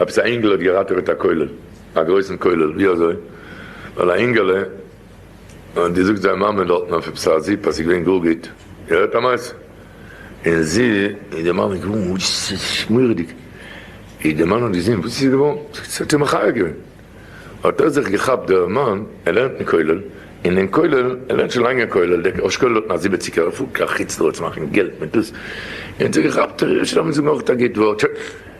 עפעס א אינגעלע האט געראטעוועט א כולל, א גרויסן כולל, ווי אזוי? ווייל א אינגעלע האט געזאגט זיין מאמע דארטן אויף עפעס א זיפ אז ס'איז געווען גאר גוט, איר הערט א מעשה? און זי און די מאמע געווארן ממש מורא'דיג, ווי די מאן האט געזען וואס איז געווארן, זאגט זי, האט איר מחיה געווען, האט ער זיך געכאפט דער מאן, ער לערנט אין כולל, און אין כולל, ער לערנט שוין לאנג אין כולל, דער אשכול האט נאר זיבעציגער ערפאלג, א חוץ לראות מאכן געלט מיט דאס, און זיך געכאפט, ער רעדט שוין לאמיר זאגן אויך א גוט ווארט,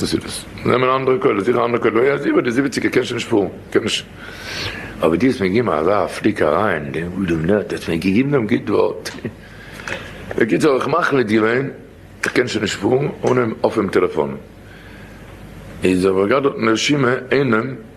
וואס איז דאס? נעמען אנדערע קולות, זיכער אנדערע קולות, יא זיכער די זיבעציגער קען שוין נישט פארן, קען נישט, אבער די האסט מיר געגעבן אזא פליק אריין, די אדם נ ט האסט מיר געגעבן דעם גוט ווארט, בקיצור איך מאך מיט די לעין, איך קען שוין נישט פארן אנעם אפעם טעלעפאן, איז האב איך געהאט דארטן רשימה אינעם.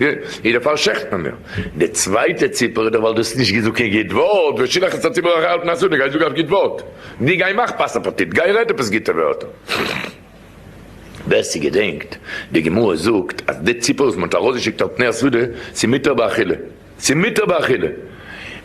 גוט, איז דער פאל שכטן מיר. די צווייטע ציפער איז דאך ווייל דו האסט נישט געזאגט קיין גוט ווארט, ושילח את הציבור אחרי אלטן אסור, די גייסט זאגן א גוט ווארט, די גיי מאך פאסט אפעטיט, גיי רעד עפעס גוטע ווערטער. ווער ס'געדענקט, די גמרא זאגט אז די ציפער וואס מ'האט ארויסגעשיקט אלטן אסור, ס'מותר באכילה, ס'מותר באכילה.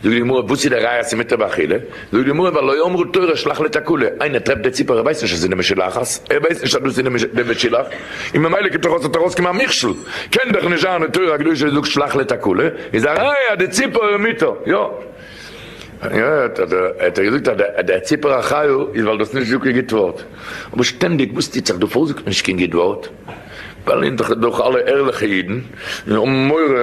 זאגט די גמרא וואס איז די ראיה אז ס'איז מותר באכילה? זאגט די גמרא ווייל לא אמרו תורה שלח לתקלה, איינער טרעפט די ציפור ער ווייסט נישט אז ס'איז די משולחת, ער ווייסט נישט אז דאס איז די משולח, און ממילא קומט ארויס ס'האט ארויסקומען א מכשול, קען דאך נישט זיין די תורה הקדושה וואס זאגט שלח לתקלה איז א ראיה אז די ציפור איז מותר, יא האט ער געזאגט אז די ציפור א חיה איז ווייל דו האסט נישט געזאגט קיין גוט ווארט, אבער שטענדיג וואס טוט זיך דא פארוואס זאגט מען נישט קיין גוט ווארט? ווייל אונז דאך אלע ערליכע אידן און האבן מורא.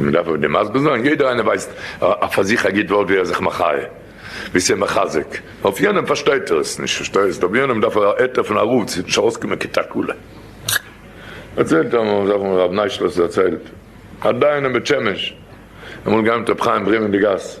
מען דארף אויף דעם מסביר זיין, יעדער איינער ווייסט פאר זיך א גוט ווארט ווי ער זיך מחיה, ווי ס'איז מחזק, אויף יענעם פארשטייט ער עס נישט, פארשטייסט, אויף יענעם דארף ער א היתר פון א רב, ס'וועט נישט ארויסקומען קיין תקלה. דערציילט ער מיר, זאך הרב ניישלאס דערציילט, א דיין אין בית שמש, ער האט געהיימט רבי חיים ברין אין די גאס,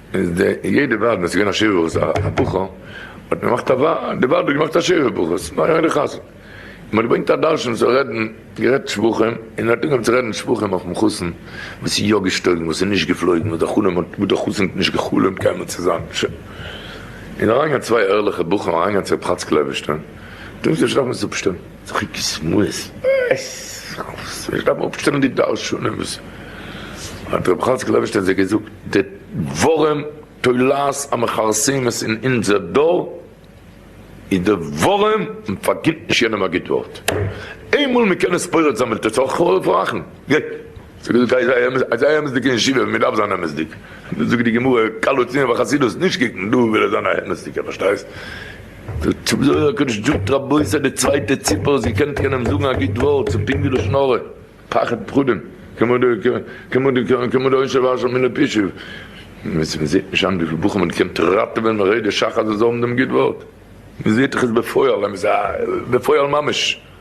איז די יעדע וועד ווען עס איז געווען א שבע ברכות א ברכה האט מען געמאכט א וועד די וועד האט געמאכט א שבע ברכות נאר יעדע חתן און מ'האט געברענגט א דרשן צו רעדן גערעדט שבחים און מ'האט אנגעהויבן צו רעדן שבחים אויפן חתן וואס איז יא געשטויגן וואס איז נישט געפלויגן וואס דער חלום האט וואס דער חתן האט נישט גע'חלומ'ט קיינמאל צו זיין ש און אריינגעהאט צוויי ערליכע בחורים אריינגעהאט צו רב חאצקל אייבערשטען טוהן זיך נישט דארפן עס אפשטעלן. צחוק איז שמועס. עס נישט דארפן אפשטעלן די דרשנים וואס האט רבי חאצקל לייבערשטאהן זי ע געזאגט די דברים תולעת המכרסמת אין אונזער דור איז די ווארים מען פארגינט נישט יענעם א גוט ווארט איינמאל מען קען עס פורץ זאמעלט עס אויך אויף רחם גיי זאג עס זיי זיי אמת'דיג אין ישיבה מען דארף זיין אמת'דיג זאגט די גמרא קל אצינד בחסידות נישט קוקן דא וויל ער זיין א אמת'דיגער פארשטייסט. זאגט צו זאגט דער קדוש זאגט רבותי די צווייטע ציפער איז געקענט קענען זאגן א גוט ווארט צו פונקט ווי לשון הרע פחד פחדים כמדו עונשי ואשר מיני פשעי מ'זעהט נישט היינט וויפיל בחורים מ'האט געקענט ראטעווען מרעידת שחר זאל זיי האבן דעם גוט ווארט מ'זעהט דאך עס בפועל בפועל ממש.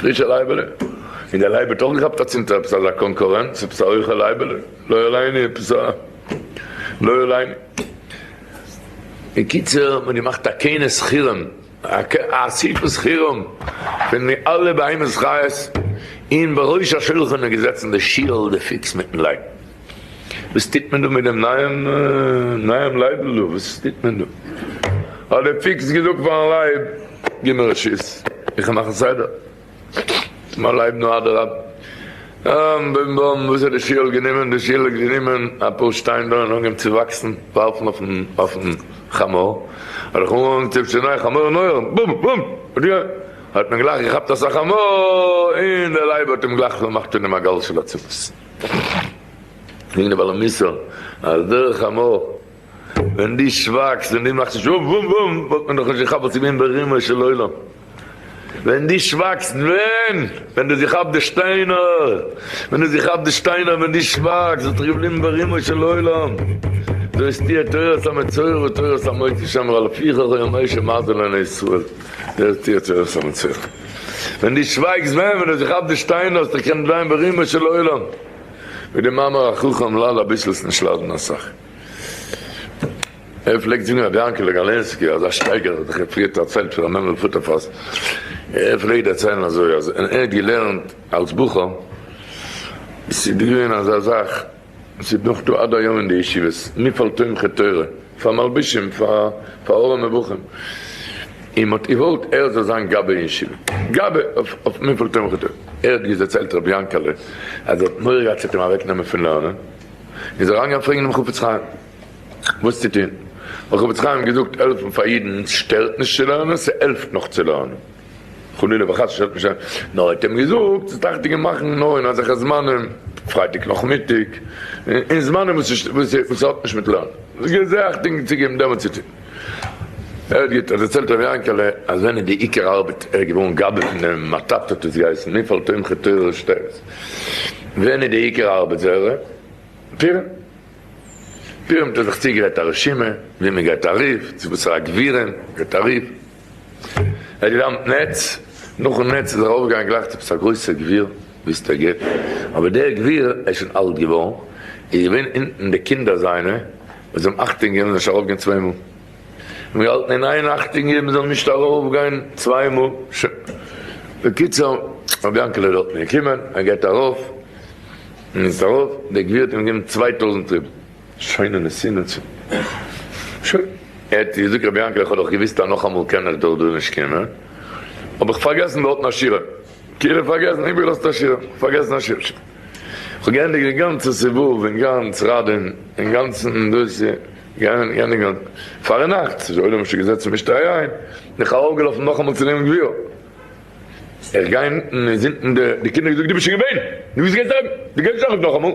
פרישע לייבעלע, און דער לייב האט אויך געכאפט אצינדער עפעס אזא קאנקורענץ, עפעס א הויכע לייבעלע, לא עליני, עפעס א לא עליני. בקיצור, מ'האט געמאכט א כינוס חירום, א אסיפת חירום, פון די אלע בהמות חיות, און בראש השולחן איז געזעצן די שיעל די פיקס מיטן לייב. וואס טוט מען דא מיט דעם נייעם נייעם לייב'ל דא? וואס טוט מען דא? האט דער פוקס געזאגט פאר'ן לייב, גיב מיר רשות, איך וועל מאכן סדר. מיין לייב, נו אדרבה. און בום בום, וואס האט די שיעול גענומען? די שיעול האט גענומען אפאר שטיין דא און אנגעהויבן צו וואקסן, ווארפן אויפ'ן חמור. האט זיך אנגעהויבן צו צענייען חמור און אויער, בום בום! האט מען גלייך געכאפט אסאך חמור, און דער לייב האט אים גלייך פארמאכט און אים א גאל של עצמות. זאגן די בעלי מוסר אז דרך אמו ווען דו שווייגסט און דו מאכסט נישט וואף וואף וואף וואלט מען דאך נישט געכאפט וואס איז געווען ברומו של עולם. ווען דו שווייגסט ווען? ווען דו האסט געכאפט די שטיינער? ווען דו האסט געכאפט די שטיינער ווען דו שווייגסט וואס איז געבליבן ברומו של עולם? זאגסט איר תורת המצורע ותורת המוציא שאמר על פיך הוי המושל מזל לעיני ישראל זאגסט איר תורת המצורע. ווען דו שווייגסט ווען ווען ער זיך כאפט די שטיינער האסט דיך קענען דרייען ברומו של עולם ווי די מאמר החכם ל ל אביסל איז נישט לאדענען אסאך ער פלעגט זאגן רבי יענקעלע גאלענסקי אזא שטייגער האט זיך ער פריער דערציילט פון ר' מענדל פוטערפאס ער פלעגט דערציילן אזוי אז ווען ער האט געלערנט אלס בחור איז געווען אזא זאך. עס איז נאך דא עד היום אין די ישיבות מפעל תומכי תורה פאר מלבישים פאר פאר אור המבוכים, און מ'האט איוואלט ער זאל זיין גבאי אין ישיבה, גבאי אויף מפעל תומכי תורה, ער האט געז דערציילט רבי יאנקעלע אז ער האט מורא געהאט ס'וועט אים אוועק נעמען פון לערנען, און איז אריין געגאנגען פרעגן דעם חפץ חיים וואס צו טוהן, האט חפץ חיים געזאגט העלפן פאר אידן שטערט נישט צו לערנען, ס'העלפט נאך צו לערנען. חלילה וחס שרייבט נישט אזוי, נאר ער האט אים געזאגט ס'איז טאקע צו מאכן נאר אין אזעלכע זמנים, פרייטאג נאכמיטאג, אין זמנים וואס ס'האט נישט מיט לערנען, געזאגט און צוגעגעבן דעמאלט צו טון. ער האט געטון, דערציילט ר' יענקעלע, אז ווען אין די עיקר ארבעט ער איז געווארן גבאי פון דעם מתת האט עס געהייסן, מפעל תומכי תורה שטערס, ווען אין די עיקר ארבעט זערע פירער פירער האט ער זיך צוגערעדט א רשימה ווי מ'גייט ארויף, צו וואסערע גבירים מ'גייט ארויף, ער האט געדאמפט נעץ, נאכן נעץ איז ער ארויפגעגאנגען גלייך צו עפעס א גרויסע גביר, וויסטע געט, אבער דער גביר, ער איז שוין אלט געווארן, איז געווען אונטן, די קינדער זיינע, וואס האבן אכטונג געגעבן, זענען נישט ארויפגעגאנגען צוויי מאל, האבן געהאלטן אין איין אכטונג געבן מען זאל נישט ארויפגיין צוויי מאל, ש. בקיצור, רבי יענקעלע איז דארטן געקומען, ער גייט ארויף, און איז ארויף, דער גביר האט אים געגעבן צוויי טויזנט רובל. שוין און עס זינען צו שוין. ער האט געזאגט רבי יענקל איך האב דאך געוויסט אז נאכאמאל קען איך דאך דא נישט קומען האב איך פארגעסן באהאלטן א שירעם כאילו פארגעסן איבערגעלאזט א שירעם פארגעסן א שירעם שוין איך האב געענדיגט די גאנצע סיבוב און גאנץ ראדין און גאנצן דאס געענדיגט גאנ פארן נאכט ס'איז עולם שוין געזעצן אין משתה אריין בין איך ארויפגעלאפן נאכאמאל צו נעמען גביר איך גיי אונטן איז אונטן די קינדער געזאגט דו ביסט שוין געווען דו ביסט געווען דארט דו גייסט דאך נישט נאכאמאל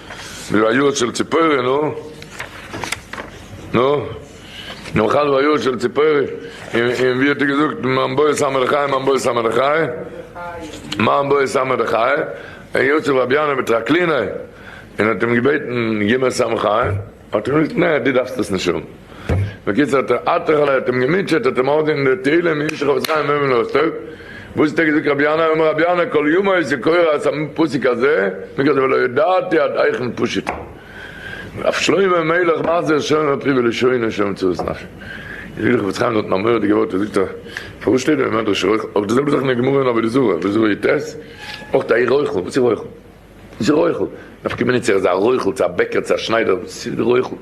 ולא היו של ציפורי, נו? נו? נאכל ולא היו של ציפורי, און ווי האט ער געזאגט, מאן בועט סאמר לחי, מאן בועט סאמר לחי, מאן בועט סאמר לחי, ער האט געזאגט רבינו בטרקלינא, און האט אים געבעטן גיב מיר סם חיים. האט ער געזאגט, נע, דו דארפסט עס נישט האבן. בקיצור האט ער אתר'לע האט אים געמוטשעט, האט אים ארדענט אין די תהלים אין ישכ אבות חיים אויבן אויף טאג, וואס האט ער געזאגט רבי ינאי, אמר רבי ינאי כל ימיו איז ער קורא את הפסוק הזה, מכח זה ולא ידעתי עד היכן פשוט הוא. אויף שלמה המלך מחזיר שום אפי' ולשונו שום צרות נפשי. אין ישכ אבות חיים זאגט מען א מורא'דיגע ווארט, ער זאגט א, פארוואס שטייט דא אין מדרש רויכל, אבער די זעלבע זאך אין די גמרא אין עבודה זרה, עבודה זרה יט, אויך א איך רויכל, וואס איך רויכל? איז רויכל, נפקא מינה צו ער איז א רויכל צו א בעקער צו א שניידער, וואס איז די רויכל?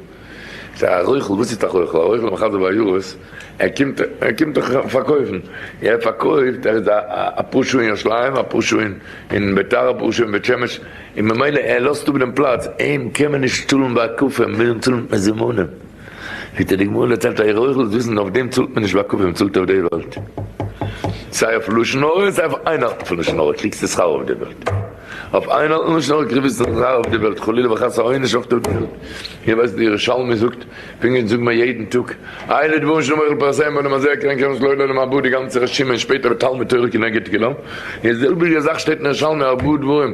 ס'איז א רויכל, וואס איז א רויכל? א רויכל מחזר בעיירות, ער קומט, ער קומט דאך פארקויפן, ער פארקויפט, ער איז א א פאר שעה אין ירושלים, א פאר שעה אין אין ביתר, א פאר שעה אין בית שמש, און ממילא ער לאזט אפ דעם פלאץ, אים קען מען נישט צאלן בהקפה, מיר מוזן צאלן מיט מזומנים. זעט איר די גמרא דערציילט אויך אויך דאס וויסן אויף דעם צאלט מען נישט ביי קווין צאלט אויף די וועלט סיי אויף לשון הרע און סיי אויף איינהאלטן פון לשון הרע קריגסטו שכר אויף די וועלט אויף איינהאלטן לשון הרע קריגסטו שכר אויף די וועלט חלילה וחס א עונש אויף די וועלט איר ווייסט די ירושלמי זאגט פונקט זאגן מיר יעדן טאג אלה דברים שלא מוחל פאר עשיהם ואני מזהיר כעין קרן שלא יהיה לעולם הבא די גאנצע רשימה און שפעטער תלמוד תורה כנגד כולם די זעלביגע זאך שטייט אין ירושלמי הרבה דברים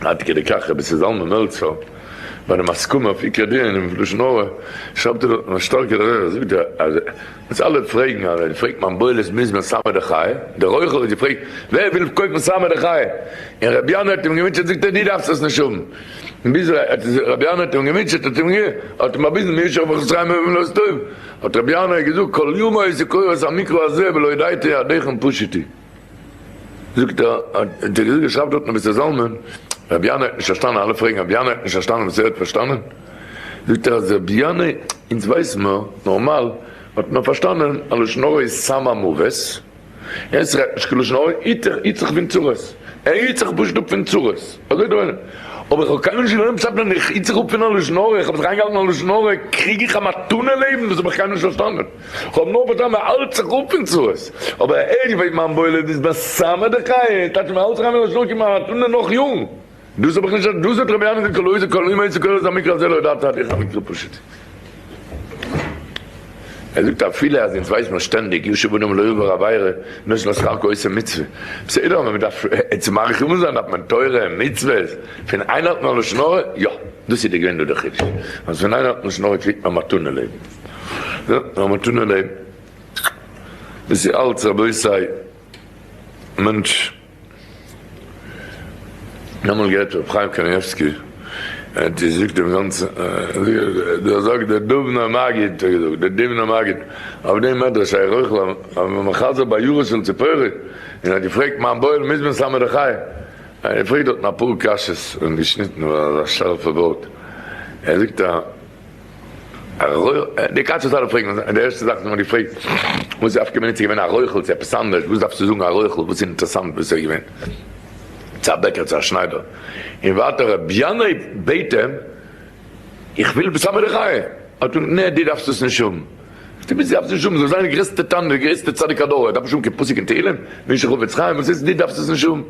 עד כדי כך רבי ז זלמן מעלצער ביי די מסקנה אויף עיקר דין אין לשון הרע שרייבט ער דארטן א שטארקע דרך ער זאגט אז אז אלע פרעגן אז ווען פרעגט מיין בויל איז מוז מען סמא דחיי דער רויכל האט געפרעגט ווער וויל קויפן סמא דחיי און רבי יונה האט אים געמוטשעט זאגט ער דו דארפסט עס נישט האבן ביז רבי יונה האט אים געמוטשעט האט אים האט אים באוויזן מי ישאר ברכות חיים אויב לא עס טוב האט רבי יונה געזאגט כל יומא איז קורא את המקרא הזה ולא ידעתי עדיכם פשוטי. זאגט ער האט ער געזאגט געשרייבט דארט מבשר זלמן רבי ינאי האט נישט פארשטאנען אלע פרעגן רבי ינאי האט נישט פארשטאנען וואס ער האט פארשטאנען זאגט ער אז רבי ינאי אונז ווייס מיר נארמאל האט נאר פארשטאנען אז לשון הרע איז סם המוות און עס רעדט נישט קיין לשון הרע היט דיך היט זיך פון צרות ער היט זיך פשוט אפ פון צרות אזוי דא אינעם אבער איך האב קיינמאל נישט געלערנט פשט פון איך היט זיך אפ פון א לשון הרע איך האב זיך איינגעהאלטן א לשון הרע קריג איך א מתנה לעבן דאס האב איך קיינמאל נישט פארשטאנען. כ'האב נאר פארשטאנען מען האלט זיך אפ פון צרות, אבער הער איך ווי מיין בוילער איז מסמא די חיה, טאטש מען האלט זיך איין ווי נאשונא כמעט און דער נאך יארן, דאס האב איך נישט אז דאס האט רבי אהרן זצוקל אויסער כל אומה איצא קוראת המקרא הזה לא ידעת עד היכן מקרא פשוט. ער זאגט אפילו אז אונז ווייס מיר שטענדיג ישוב בנים לא יעבור עבירה נישט נאר שכר כעושה מצוה, בסדר אבער מען דארף צו מאריך ימים זיין דארף מען תורה און מצוות, פון איינהאלטן א לשון הרע יא דאס איז געווען דא דער חידוש אז פון איינהאלטן לשון הרע קריגט מען מתנה לעבן. יא, לאמיר טון אין דעם. דאס איז אלץ רבותי, מענטש, איך האב אמאל געהערט ר' חיים קנייבסקי, ער האט געזאגט דעם גאנצן, דער זאגט דער דובנער מגיד האט געזאגט, דער דובנער מגיד, אויף דעם מדרש שייך אויך ל ע, ווען מען חזר'ט ביי יורו של ציפורי, און ער האט געפרעגט מיין בויער מוז מען סמדר חיים, ער האט געפרעגט דארטן אפאר קשיות און געשניטן ווייל ער איז א שארפע ווארט, ער זאגט א. די קאץ האט אלע פראגן און די ערשטע זאך וואס מען האט געפרעגט וואס איז אויפגעקומען איצט איז געווען א רויכל צו עפעס אנדערש וואס דארפסטו זאגן א רויכל וואס איז אינטערעסאנט וואס איז געווען צו א בעקער צו א שניידער און ווייטער רבי ינאי בעט אים איך וויל בשר מן החי האט אים נע דו דארפסט דאס נישט האבן. די ביסט יאפס נישט האבן, זאל זיין די גרעסטע תנא, די גרעסטע צדיק הדור, ער דארף נישט האבן קיין פסוק אין תהילים? בין איך חפץ חיים? וואס הייסט דו דארפסט עס נישט האבן?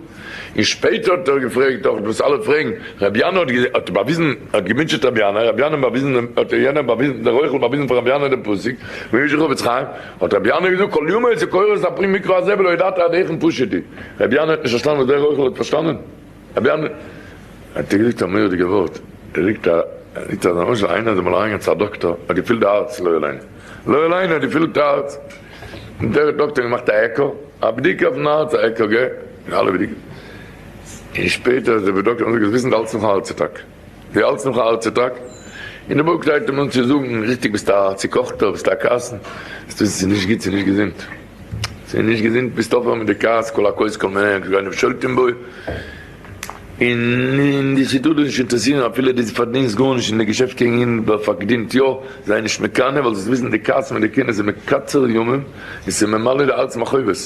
און שפעטער האט ער געפרעגט דאך וואס אלע פרעגן, רבי ינא האט באוויזן, ער האט געמוטשעט רבי ינא, רבי ינא באוויזן דעם, האט דער יענער באוויזן, דער רויכל באוויזן פאר רבי ינא דעם פסוק, בין איך חפץ חיים? האט רבי ינא געזאגט כל ימיו איז ער קורא את הפרי מקרא הזה ולא ידעת עד היכן פשט די, רבי ינא האט נישט פארשטאנען וואס דער רויכל האט פארשטאנען. אבי אנ האט ער געזאגט א מורא'דיגע ווארט, ער זאגט א זאגט אז למשל איינער איז אמאל אריינגעגאנגען צו א דאקטאר האט געפילט די הארץ לא עלינו לא עלינו האט געפילט די הארץ און דער דאקטאר האט געמאכט א עקא א בדיקה אויפן הארץ א עקא ג און אלע בדיקות און שפעטער איז די דאקטאר געזאגט וואס איז אלץ נאך א הארץ אטאק ווי אלץ נאך א הארץ אטאק און די בוק זייט אים אן צו זאגן ריכטיג ביסט א צוקאכטער ביסט א קאסן ביסט נישט גוט ס'איז נישט געזונט. ס'איז נישט געזונט ביסט אויפהער מיט די כעס כל הכעוס כל מענה כגון אויב שולטים בו און די סיטוט דאס נישט אינטערעסירן אפילו די פארדינסט גארנישט אין די געשעפט קעגן אים ווער פארקדינט יא זיי נישט מקנא ווייל זאלסט וויסן די כעס מיט די קנאה איז מקצר ימים און ס'ממלא די הארץ מחובות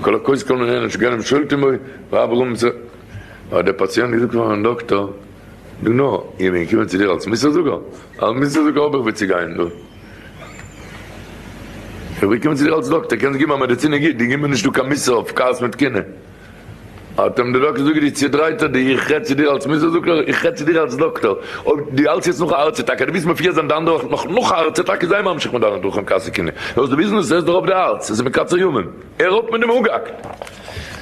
כל הכעוס כל מענה כגון אויב שולטים בו ואב רומ ז האט דער פאציענט געזאגט פארן דאקטאר. נו נו, איך בין געקומען צו דיר אלס מוסר זאגער? אלס מוסר זאגער האב איך וואו צו גיין, נו. איך בין געקומען צו דיר אלס דאקטער, קענסט געבן א מעדיצין גוט, דו גיב מיר נישטא קיין מוסר אויף כעס מיט קנאה. האט אים דער דאקטער זאגט דו צודרייטער, דו איך רעד צו דיר אלס מוסר זאגער? איך רעד צו דיר אלס דאקטער, אויב דו האלטסט יעצט נאך א הארץ אטאקע, דו ווילסט מיר פירזען די אנדערע וואך נאך נאך א הארץ אטאקע, זיי ממשיך מיט דיינע דרכים כעס און קנאה, וואס דו ווילסט נישט, ס'עסט דיר אויף די הארץ, עס איז מקצר ימים. הער אויף מיט דעם הוגהקט!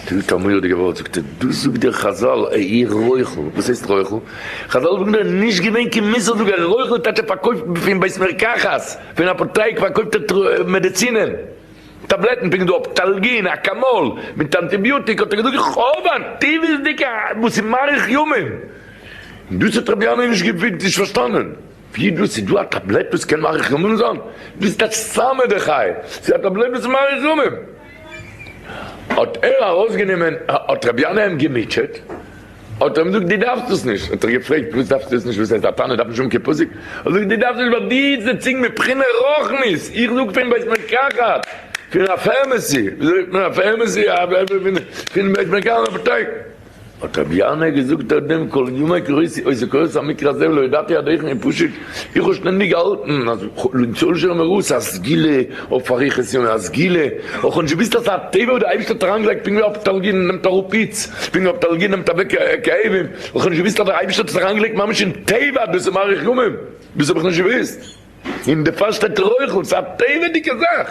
פילט א מורא'דיגע ווארט, זאגט ער, דאס זאגט דיר חזל, א איר רויכל! וואס הייסט רויכל? חזל זאגן דיר, נישט געווען קיין מוסר זאגער, א רויכל איז טאקע פארקויפט פון בית מרקחת, פון אפותייק פארקויפט ער מעדעצינען, טאבלעטן, פונקט דא אפטאלגין, אקאמאל, מיט אנטיביוטיק, האט ער געזאגט, איך האב א טבעות'דיגע וואס איז מאריך ימים! דאס האט רבינו נישט געפיט, נישט פארשטאנען. ווי דאס איז דא א טאבלעט וואס קען מאריך ימים זיין? דאס טייטש סאמע די חיה, ס'איז א טאבלעט וואס מאריך ימים. האט ער ארויסגענומען, האט רבי ינאי אים געמוטשעט, האט ער אים געזאגט דו דארפסט עס נישט, האט ער געפרעגט פארוואס דארפסטו עס נישט, וואס הייסט א תנא דארף נישט האבן קיין פסק, האט ער געזאגט דו דארפסט נישט ווייל דו איז די צינג מבחינה רוחנית, איך זאג פון בית מרקחת, פון א פערמעסי, וויאזוי זאגט מען א פערמעסי, פון בית מרקחת, אפטייק. האט רבי ירמיה געזאגט אויף דעם כל ימי קוראיתי אויסער קוראיתי המקרא הזה ולא ידעתי עד היכן און פשוט איך האב שטענדיג געהאלטן אז למצוא לשון המערות א סגולה אויף אריכות ימים א סגולה אויך האב נישט געוויסט אז ס'איז א טבע וואס די אייבישטער האט אריין געלייגט פונקט ווי אויף תלגין נעמט אראפ פיץ פונקט ווי אויף תלגין נעמט אוועק כאבים אויך האב נישט געוויסט אז די אייבישטער האט עס אריין געלייגט ממש אין טבע אז דאס איז מאריך ימים דאס האב איך נישט געוויסט און די פאר שטייט רחל ס'איז א טבע'דיגע זאך.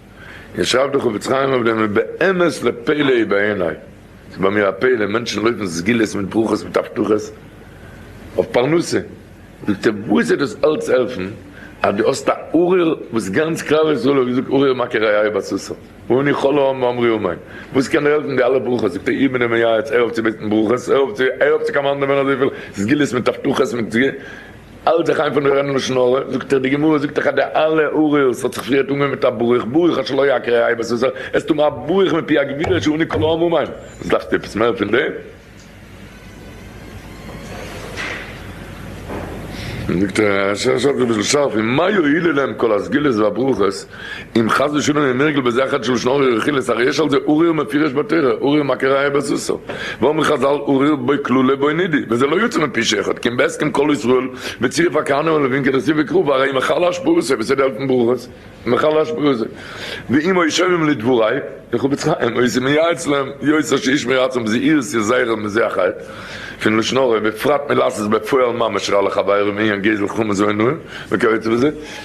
און שרייבט דער חפץ חיים אויף דעם ובאמת לפלא היא בעיני, ס'איז ביי מיר א פלא, מענטשן לויפן סגולות מיט ברכות מיט הבטחות אויף פרנסה, זאגט ער וואס וועט דאס אלץ העלפן אז דו האסט א ארער וואס גאנץ כלל ישראל האט געזאגט ארער מכה רעיו בסוסו ואני כל העם מאמרי אמן, וואס קען דיר העלפן די אלע ברכות, זאגט ער איך בין דער מייעץ, הער אויף צו בעטן ברכות, הער אויף צו קאמאנדען ווען אזויפיל סגולות מיט הבטחות מיט האלט זיך איין פון די רען לשון הרע, זאגט ער די גמרא זאגט דאך אז די אלע עריות האט זיך פריער אנגעהויבן מיט א ברוך ברוך עד שלא יקרה א איבה סוסא, עס טוהן א ברוך מפי הגבורה אשר עונה כל העמים המה, וואס דארפסטו עפעס מער פון דעם? זאגט ער, עס איז אביסל שארף, ומה יועילו להם כל הסגולות והברכות אם חס ושלום יהיה נרגל בזה החטא של לשון הרע ורכילות הרי יש על זה אורי אור מפירש בתורה אורי אור מקריא היה בסוסו ואומרים חזל אורי אור בוי כלולא בוי נידי וזה לא יוצא מפי שאחד כי אם בהסכם כל ישראל בצירוף הכהנים הלווים כנסיב וקרוב הרי אם החל אש פורס ה' בסדר אלפים ברוחות אם החל אש פורס ה' ואם היו שומעים לדברי לחפץ חיים היו עושים מייעץ להם יוצא שאיש מרצון בזהירות יזהר מזה החטא פון לשון הרע בפרט מלעשות בפועל ממש רע לחברו מעיין גזל חמץ ועינויים וכיוצא בזה.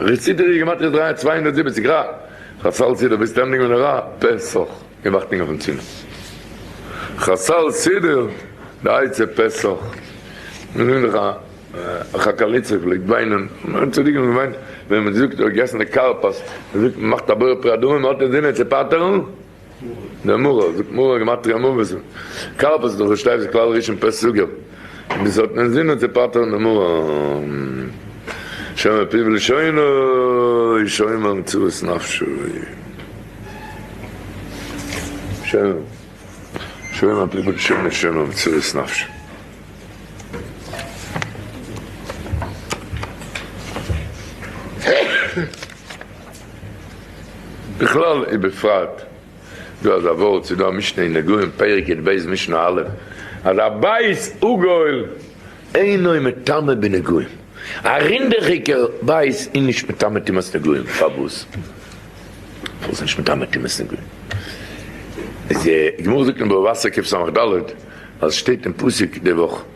ר' סידורי גימטריא דרײַ צוויי הונדערט זיבעציק רא, חסל סידור ביז סטענדינג אן ע ר פסח און וואכטינג אויפן צימעס חסל סידור די עצה פסח מ'זינגט דאך א חקליצע פלעגט וויינען מ'האט צדיקים האבן געוויינט ווען מ'זאגט מ'האט געגעסן די כרפס מ'זאגט מ'מאכט א בורא פרי אדמה מ'האט אינזינען צו פטר'ן די מרא, זאגט מרא גמטריא מרבז, כרפס דאך שטייף איז כלל ראשון פ' סוגר, און דאס האט מען זינען צו פטר'ן די מרא, שומר פיו ולשונו שומר מצוות נפשו, שומר פיו ולשונו שומר מצוות נפשו. בכלל ובפרט דא אזא ווארט, ס'איז דא א משנה אין נגעים פרק י ב משנה א' אז א בית עגול אינו מטמא בנגעים, א רינדעכיגער בית איז נישט מטמא טומאת נגעים, פארוואס? ווייל ס'איז נישט מטמא טומאת נגעים, איז די גמרא זאגט אין בבא בסק ק סח ד אז עס שטייט אין פסוק די וואך.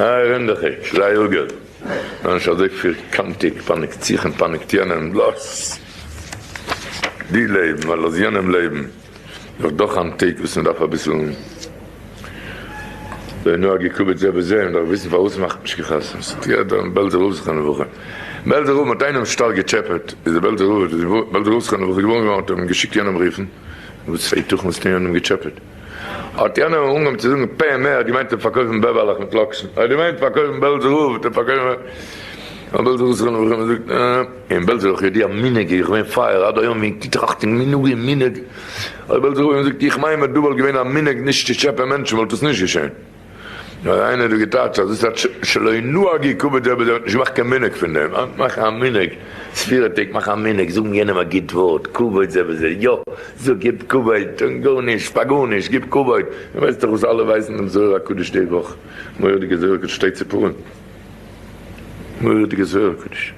אה, רינדעכיק, זיי אגער זיי נישט אזוי פֿירקאנטיק, פאניקט זיך און פאניקט יענעם, לאז דיר לעבן, און לאז יענעם לעבן, דאך דאך אן טאג וואס מען דארף אביסל זה נוהג יקובת זה בזה, מען דארף וויסן פארוואס מאכט נישט קיין חתונה, עס האט יעדער אין בעלזער הויז זיך אן וואך, אין בעלזער הויז מען האט איינעם שטארק געטשעפעט, איז די בעלזער הויז איז געווארן זיך אן וואך, איז געווארן געווארן מען האט אים געשיקט יענעם רופן, וואס פאר היתכן וואלסטו יענעם געטשעפעט. האט יענער אנגעהויבן צו זאגן, פ מ האט געמיינט צו פארקויפן בעבערלעך מיט לאקשן, ער האט געמיינט פארקויפן בעלזער רב צו פארקויפן א בעלזער זכרון לברכה, מען זאגט אין בעלז איך ידוע מנהג איך בין פייער עד היום אין טראכטן מנהגים מנהג אויב בעלזער רב האט געזאגט איך מיין מדובר געווען א מנהג נישט צו טשעפען מענטשן וואלט עס נישט געשען. נאר איינער האט דא געטייטש אז דאס איז א שלא נהגי כבוד דער בעל דעה האט נישט געמאכט קיין מנהג פון דעם, אנ ש מאכן א מנהג, ספירה טעג מאכן א מנהג, זאגן יענעם א גוט ווארט, כבוד זה וזה, יא, זאג גיב כבוד, טון גארנישט פאר גארנישט, גיב כבוד, דו ווייסט דאך וואס אלע ווייסן דעם זוהר הקדוש די וואך, מורא'דיגע זוהר הקדוש שטייט צו פורים. מורא'דיגע זוהר הקדוש.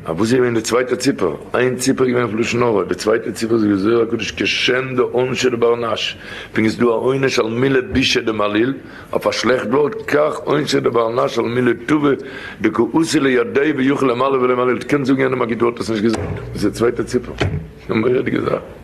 א וואס איז געווען די צווייטע ציפער? איין ציפער איז געווען פון לשון הרע, די צווייטע ציפער איז געווען זוהר הקדוש כשם דעונשי לבר נש, ווי איז דא א עונש על מילה בישה דמעליל, אויף א שלעכט ווארט, כך עונשי לבר נש על מילה טובה דכעוסי לידי ויוכל למעלה ולמעליל, קענסט זאגן יענעם א גוט ווארט האסט נישט געזאגט, דאס איז די צווייטע ציפער, א מורא'דיגע זאך.